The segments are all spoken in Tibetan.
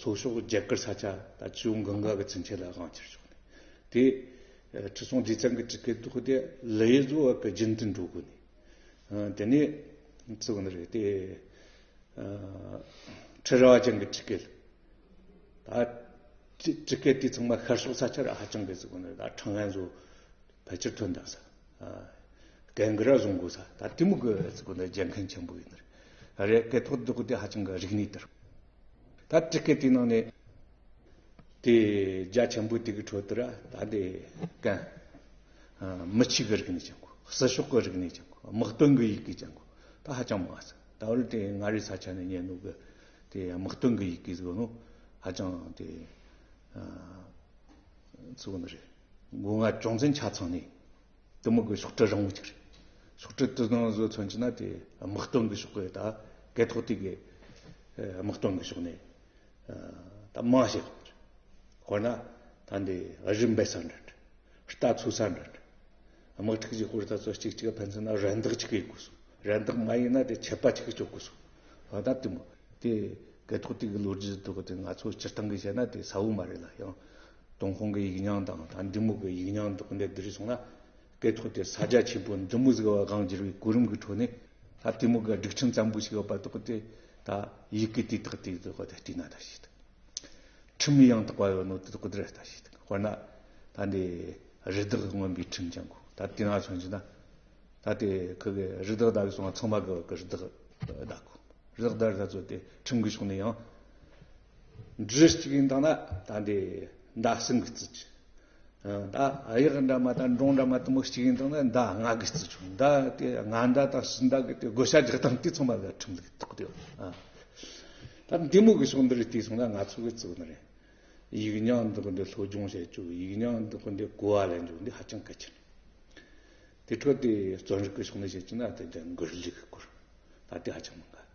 སོགས་ཕྱོགས་བརྒྱད་བསྐུར་ས་ཆ་དང་ཆུ་བོ་འགང་འགག་གི་ཚུན་ཆད་ལ་དབང་ཆེར་ཕྱོགས་ནས། དེས་ཁྲི་སྲོང་ལྡེ་བཙན་གྱི་གྲི་ཁའི་གདུགས་དེ་ལི་ཡི་གཟུ་བག་གི་རྒྱུན་དུ་འགྲོ་དགོས་ནས། དེ་ནས་ཚུར་འོང་ནི་རེད་དེ། ཁྲི་རལ་བ་ཅན་གྱི་གྲི་ཁའི་ལི། གྲི་ཁའི་དུས་ཚང་མ་ཤར་ཕྱོགས་ས་ཆར་ཧ་ཅང་གི་གཟུགས་ནི་ད་ཁྲང་ལན་བཟོ། བོད་སྤྱིར་དོན་དམ་ས། གན་གི་ར་བཟུང་དགོས་ས་ད་ཏི་མུ་གི་ཚི་གུ་འདི་རྒྱལ་མཁན་ཆེན་པོ་ཡིན་ནི་རེད་གི་ཐོག་ཏུ་གི་དེ་ཧ་ཅང་གི་རིག་གནས་དེར། ད་ཏི་གི་དེ་ནང་ནས། དེ་རྒྱ་ཆེན་པོ་དེ་གི་ཁྲོད་དུ་ར་ད་དེ་གན། མི་ཆིག་གི་རིག་གནས་ཅན་གོ་སི་ཤོག་གི་རིག་གནས་ཅན་གོ་དམག་དོན་གི་ཡིག་གི་ཅན་གོ་ད་ཧ་ཅང་མང་ས་ད་བར་དེ་ང་རི་ས་ཆ་ནས་ཉན་ནོ་གི་དེ་དམག་དོན་གི་ཡིག་གི་ཚི་གུ་ནོ་ཧ་ཅང་དེ། ཚི་གུ་ནི་རེད། སྒོ་ང་ཅུང་ཙམ་ཆ་ཚང་ནས་དུ་མི་དགོས་ཤོག་དྲིལ་རིང་བོ་ཅིག་རེད། ཤོག་དྲིལ་དུ་ནང་བཟོ་ཚོན་གྱི་ནང་དེ་དམག་དོན་གྱི་ཤོག་གི་ད་གད་ཐོག་དེ་གའི་དམག་དོན་གྱི་ཤོག་ནས་ད་དམག་བྱེད་དགོས་རེད། དཔེར་ན་ད་འདི་རི་འབེད་ས་འདྲ་འདྲ། རྟ་འཚོས་ས་འདྲ་འདྲ། དམག་འཁྲུག་གྱི་སྐོར་ད་གཟོད་གཅིག་གཅིག་ཕན་ཚུན་ན་རེ་འདེགས་གཅིག་ཡོད་དགོས་སོང། རེ་འདེགས་མ་ཡིན་ན་དེ་ཆད་པ་ཅིག་གཅོད་དགོས་སོང། ད་ད་དུ་མི་དེ་གད་ཐོག་དེ་གའི་ལོ་རྒྱུས་ཐོག་དེ་ང་ཚོ་སྤྱིར་བཏང་གིས་བཤད་ན་དེ་ས་བོན་མ་རེད་ལ་ཡང། དུང་ཁོང་གི་ཡིག་ཉང་དང་དང་འབྲི་མུག་གི་ཡིག་ཉང་འདུག་འདི་རིགས་སོང་ན། སྐད་ཐོག་དེ་ས་རྒྱ་ཆེན་པོ་འབྲི་མུག་ཟེར་བ་གང་བསྒྱུར་བའི་གོ་རིམ་གྱི་ཁྲོད་ནས། ལྷ་བསྟན་མུག་གི་སྒྲིག་ཁྲིམས་ཙམ་པོ་ཞིག་ཡོད་པ་འདུག་དེ་ད་ཡིག་གི་དེ་དག་དེ་དག་བསྟི་ན་ད་ཞིག་འདུག། ཁྲིམས་ཡང་དག་པ་ཡོད་ནོ་དེ་དག་དེར་ད་ཞིག་འདུག་དཔེར་ན། ད་འདི་རི་དྭགས་ཀྱི་མངོན་པའི་ཁྲིམས་ཀྱང་གོ་ད་དེ་ན་སོང་ཅིག་ན། ད་དེ་ཁོ་གི་རི་དྭགས་བདག་གིས་སོང་བ་ཚང་མ་གི་རི་དྭགས་བདག་གོ། རི་དྭགས་བདག་རི་དྭགས་ཚོ་དེ་ཁྲིམས་ཀྱི་ཕྱོགས་ནས་ཡང། འབྲུ་གཅིག་ཡིན་དང་ན་ད་འདི་མདའ་སྲིན་གྱི་རྩི་ཆུ། མདའ་གཡག་འདྲ་མ་དང་འབྲོང་འདྲ་མ་དུ་མ་གཅིག་ཡིན་དང་ན་མདའ་རྔ་གྱི་རྩི་ཆུ། མདའ་དེ་རྔ་མདའ་དང་སྲིན་མདའ་གྱི་དེ་བགོ་བྱ་རྒྱག་སྟངས་དེ་ཚང་མ་ལ་ཁྲིམས་ལུགས་གཏོགས་དེ། ད་མདའི་མོ་གི་ཕྱོགས་འདི་རིགས་དེ་སོང་ན་ང་ཚོ་གི་གཙུག་ན་རེད། ཡིག་ཉག་འདི་ཀུན་འདི་སློབ་སྦྱོང་བྱེད་རྒྱུ་ཡིག་ཉག་འདི་ཀུན་འདི་གོ་བ་ལེན་རྒྱུ་འདི་ཧ་ཅང་གལ་ཆེན། དེ་ཁྲོད་དེ་རྩོམ་རིག་གི་ཕྱོགས་ནས་བཤད་ཀྱི་ན་ད་འདི་འགུལ་ལུགས་སྐོར་ད་དེ་ཧ་ཅང་མི་དགའ།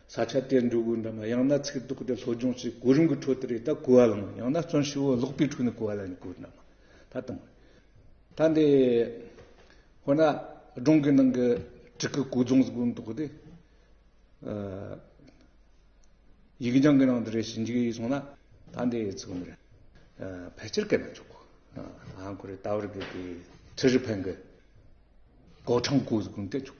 ས་ཆ་དེར་འགྲོ་དགོས་འདྲ་མ་ཡང་ན་ཚིག་རྡོག་དེ་སློབ་སྦྱོང་བྱེད་གོ་རིམ་གྱི་ཁྲོད་དུ་རེད་ད་གོ་བ་ལོན་མོད་ཡང་ན་བརྩོན་ཞིག་འོ་ཀློག་པའི་ཁྲོད་ནས་གོ་བ་ལེན་གྱི་གོ་འདྲ་མ་ད་གཏོང་ད་འདི་འོ་ན་སྒྲུང་གི་ནང་གི་བྲིས་སྐུ་གོ་རྫོང་གོ་འདོག་དེ་ཡིག་རྒྱང་གི་ནང་དུ་རེ་ཞིག་འཇུག་ཡིག་སོང་ན་ད་འདི་ཚིག་མི་རེད་ཕལ་ཆེར་སྐད་མི་ཆོག་གོ་ཨང་གོ་རེ་ད་བར་གི་གི་ཁྲི་རི་ཕན་གི་གོ་ཁྲང་གོ་གོ་འདེད་ཆོག་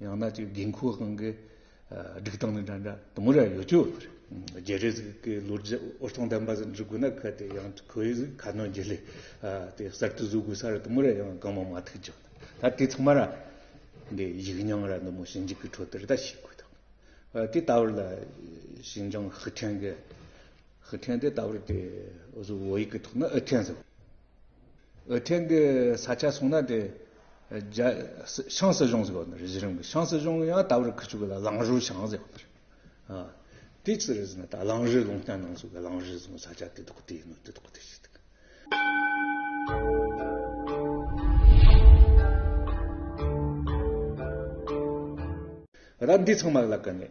ཡང་ན་ཅིག་དགེ་འཁུ་ཁང་གི་སྒྲིག་སྟངས་ནི་འདྲ་འདྲ་དུ་མོ་རེ་ཡོད་ཀྱི་ཡོད་པ་རེད། རྒྱལ་རིགས་ཀྱི་ལོ་རྒྱུས་ཨོ་སྟོང་ལྡན་པ་ཟིག་འབྲི་དགོས་ན་གལ་ཏེ་ཡང་ཁོའི་གཟིགས་ཁ་སྣོན་རྒྱུ་ལས་དེ་གསར་དུ་བཟོ་དགོས་ས་རེ་དུ་མོ་རེ་ཡང་གང་མང་མ་ཐུག་ཀྱང་ད་དེ་ཚང་མ་ར་འདི་ཡིག་རྙིང་ར་འདི་མོ་ཞིབ་འཇུག་གི་ཁྲོད་དུ་རེ་ད་ཤེས་དགོས་ཐུག་དེ་ལྟ་བུ་ལ་ཞིན་ཅང་ཧི་ཁྲེང་གི་ཧི་ཁྲེང་དེ་ལྟ་བུ་དེ་བཟོ་བོ་ཡིག་གི་ཐོག་ནས་ཨི་ཁྲེང་ཟེར། ཐེངས་འདིའི་ས་ཆ་སོང་ན་དེ། ཤང་སྲིད་གཞུང་ཟེར་བ་ནི་རེད་གཞི་རིམ་གྱི་ཤང་སྲིད་གཞུང་ཡང་ད་བར་ཁུ་བྱུག་གི་ལ་ལང་རུའུ་ཤང་ཟེར་བ་ནི་རེད། དེ་ཅི་རེད་ཟེར་ན་ད་ལང་རི་ལུང་བསྟན་ནང་སོགས་ཀྱི་ལང་རི་ཟེར་བའི་ས་ཆ་དེ་དག་དེ་ཡིན་ནོ་དེ་དག་དེ་བྱས་འདུག། ད་འདི་ཚང་མ་ལ་དགའ་ནས།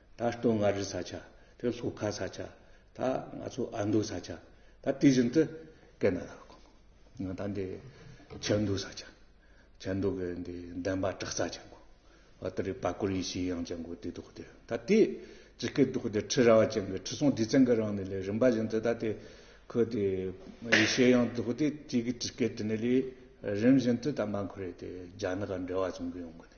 ད་སྟོད་མངའ་རིས་ས་ཆ་དེ་ལྷོ་ཁ་ས་ཆ་ད་ང་ཚོ་ཨ་མདོ་ས་ཆ་ད་དེ་བཞིན་དུ་ཀེ་ན་ར་གོང་ད་འདི་ཆབ་མདོ་ས་ཆ་ཆབ་མདོ་གི་འདི་འདན་པ་བྲག་རྩ་ཆེན་མོ་བ་དེ་རི་པ་ཀོ་རི་ཤིས་དབྱངས་ཅན་གོ་དེ་ཐོག་དེ་ད་དེ་ཇི་ཀེ་ཐོག་དེ་ཁྲི་ར་བ་ཅན་གི་ཁྲི་སྲོང་ལྡེ་བཙན་གི་རང་ནི་ལས་རིམ་པ་བཞིན་དུ་ད་དེ་ཁོ་དེ་ཡེ་ཤེས་དབྱངས་ཐོག་དེ་དེ་གི་ཇི་ཀེ་དེ་ནི་ལས་རིམ་བཞིན་དུ་ད་མ་འཁོར་རེ་དེ་རྒྱ་ནག་ག་འབྲེལ་བ་བྱུང་གི་ཡོང་གི་ནི་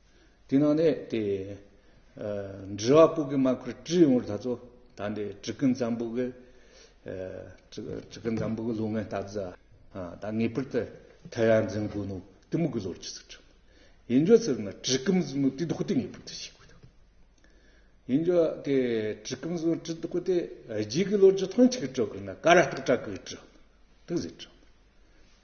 དེ་ནང་ནས་དེ། འདྲི་བ་པོ་གི་མ་ཁུར་བཀྲི་ཡོང་བར་ད་ཚོ་ད་འདི་བྲི་ཀི་འཛམ་བུ་གི། བྲི་ཀི་འཛམ་བུ་གི་ལོ་ངན་ལྟ་བཟའ། ད་ངེས་པར་དུ་ཐལ་ཡ་འཛིན་དགོས་ནོ་དེ་མུ་གི་ལོར་ཅི་ཟེར་དྲན། ཡིན་རྒྱུ་ཚོད་ན་བྲི་ཀི་འཛིན་མུ་དེ་དོག་དེ་ངེས་པར་དུ་ཤེས་དགོས་དོ། ཡིན་རྒྱུ་དེ་བྲི་ཀི་འཛིན་བྲི་དོག་དེ་རྗེས་ཀི་ལོ་རྒྱུ་ཐང་ཆིག་སྤྲོད་དགོས་ན་ཀ་ར་སྟག་སྤྲ་གི་བྲི། དེ་ཟེར་དྲན།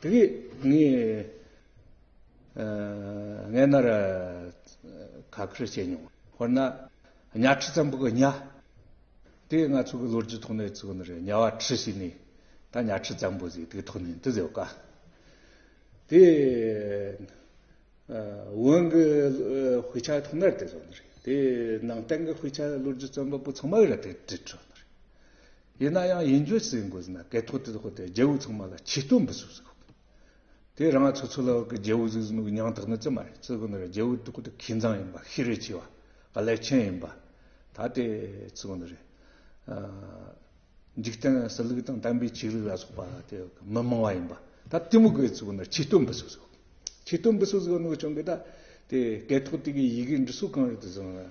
དེ་གིས་ངས་ངའི་སྣ་ར་ཁ་ཁུར་བྱས་མྱོང། དཔེར་ན། གཉའ་ཁྲི་ཙམ་པོ་གི་གཉའ། དེ་ང་ཚོ་གི་ལོ་རྒྱུས་ཐོག་ནས་ཚུགས་ནི་རེད་གཉའ་བ་ཁྲི་ཞིག་ནི་ད་གཉའ་ཁྲི་ཙམ་པོ་ཟིག་དེ་ཐོག་ནས་འདི་ཟེར་བ་དཀའ། དེ་བོན་གི་དཔེ་ཆ་ཐོག་ནས་དེ་ཟོ་ནི་རེད་དེ་ནང་བསྟན་གི་དཔེ་ཆ་ལོ་རྒྱུས་རྩོམ་པ་པོ་ཚང་མ་གི་རེད་དེ་དྲིས་ཆོག་ནི་རེད། ཡིན་ན་ཡང་ཡིན་རྒྱུ་ཟེར་དགོས་ཟེར་ན་གད་ཐོག་དེ་ཐོག་དེ་རྒྱལ་བོ་ཚང་མ་ལ་ཆིག་སྟོན་འབུལ་ཟུག་ཟེར་དགོས། དེ་རང་ཚོ་ཚོ་ལ་གི་རྒྱལ་བོ་ཟུག་ཟུག་ནུག་ཉང་དག་ནི་ཙི་མ་རེད་ཙི་གུ་ནི་རེད་རྒྱལ་བོ་དུག་དུག་ཁྱི་འཛང་ཡིན་པ་ཤི་རེ་ཆི་བ་ག་ལེ་ཆེན་ཡིན་པ་ད་དེ་ཙི་གུ་ནི་རེད། འཇིག་རྟེན་སྲི་ལུགས་དང་དམ་པའི་ཆིག་ལུགས་ལ་སོགས་པ་དེ་མི་མང་བ་ཡིན་པ་ད་དེ་མུག་གི་ཙི་གུ་ནི་རེ་ཆིག་སྟོན་འབུལ་ཟུག་ཟེར་དགོས། ཆིག་སྟོན་འབུལ་ཟུག་ཟེར་བ་ནུག་ཆུང་གི་ད་དེ་གད་ཐོག་དེ་གི་ཡི་གེ་འབྲི་སྲོལ་གང་རེད་དུ་ཟེར་ན།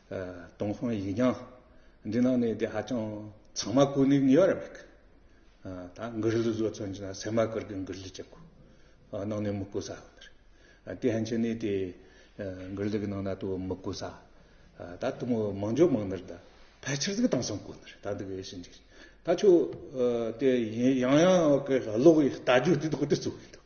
དོང་ཧོང་ཡིག་རྙིང་འདི་ནང་ནས་དེ་ཧ་ཅང་ཚང་མ་ཀུན་ནས་ཉོས་ར་མེད་གི། ད་མགུར་གླུ་བཟོ་ཚོན་ཅི་ན་སེ་མ་ཀུར་གི་མགུར་གླུ་ཅི་དགོས་ནང་ནས་མི་བཀོད་ས་ཡོད་རེད། དེ་ཧན་ཆེ་ནས་དེ་མགུར་གླུ་གི་ནང་ན་དུ་མི་བཀོད་ས། ད་དུ་མོ་མང་འཇོག་མང་ནར་ད་ཕལ་ཆེར་གཟིགས་དང་སང་བཀོད་ནར་ད་འདི་གི་ཞིན་ཅིག་ད་ཆོ་དེ་ཡང་ཡང་གི་ལོག་གི་ལྟ་རྒྱུ་དེ་དག་དེ་གཙོ་བོ་ཡིན་འདུག།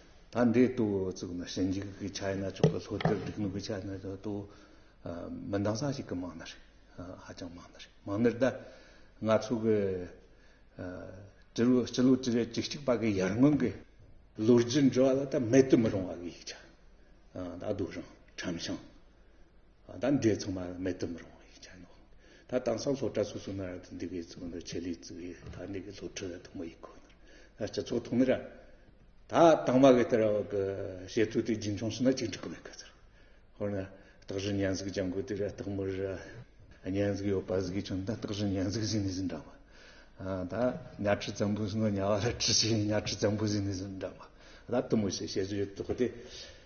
ད་འདི་ལྟོ་བཙུགས་ན་ཞིང་འཇིག་གི་ཆ་ཡིན་ན་ཆོག་གི་ལྷོ་རྟེར་སྡིག་ནོར་གི་ཆ་ཡིན་ན་ཆོག་ལྟོ་མི་འདང་ས་ཞིག་གི་མང་ན་རེ། ཧ་ཅང་མང་ན་རེ་མང་ནི་ད་ང་ཚོ་གི་སྤྱི་ལོ་སྤྱི་ལོ་སྤྱི་རེ་གྲི་གཅིག་པ་གི་ཡར་སྔོན་གི་ལོ་རྒྱུས་འབྲི་བ་ལ་ད་མེད་དུ་མི་རུང་བ་གི་ཡིག་ཆ་ད་སྡུག་རང་ཁྲམ་ཤང། ད་འདྲའི་ཚང་མ་མེད་བསྟོད་མི་རུང་བ་ཡིན་ཀྱང་ནོ། ད་དེང་སང་ཚོགས་གྲ་སོ་སོ་ན་ར་དེ་འདི་གའི་གཙོ་འདུ་ཆེད་ལས་གཙོ་བའི་ད་འདི་གའི་སློབ་ཁྲིད་དུ་མ་ཡི་ཁོ་ནར་ད་སྤྱི་ཚོགས་ཐོག་ནས་ར་ད་དང་བ་གི་དེར་གི་བྱེད་ཚུལ་དེ་རྒྱུན་འཁྱོངས་བྱས་ན་ཅིག་འགྲིག་གི་མེད་གི་ཟེར། ཧོར་ན་སྟག་བཞི་གཉན་གཟིགས་ལྗང་གུ་དེ་ར་སྟག་མོ་ར་གཉན་གཟིགས་ཡོད་པ་གཟིགས་ཀྱང་ད་སྟག་བཞི་གཉན་གཟིགས་གཟིགས་ནས་ཟིན་འདྲ་མ་ད་གཉའ་ཁྲི་ཙམ་པོ་ཟིན་ན་གཉའ་བ་ར་ཁྲི་ཆེ་གཉའ་ཁྲི་ཙམ་པོ་གཟིགས་ནས་ཟིན་འདྲ་མ་ད་བསྟོད་མོ་བྱེད་བྱེད་ཚུལ་ཡོད་དོ་གི་དེ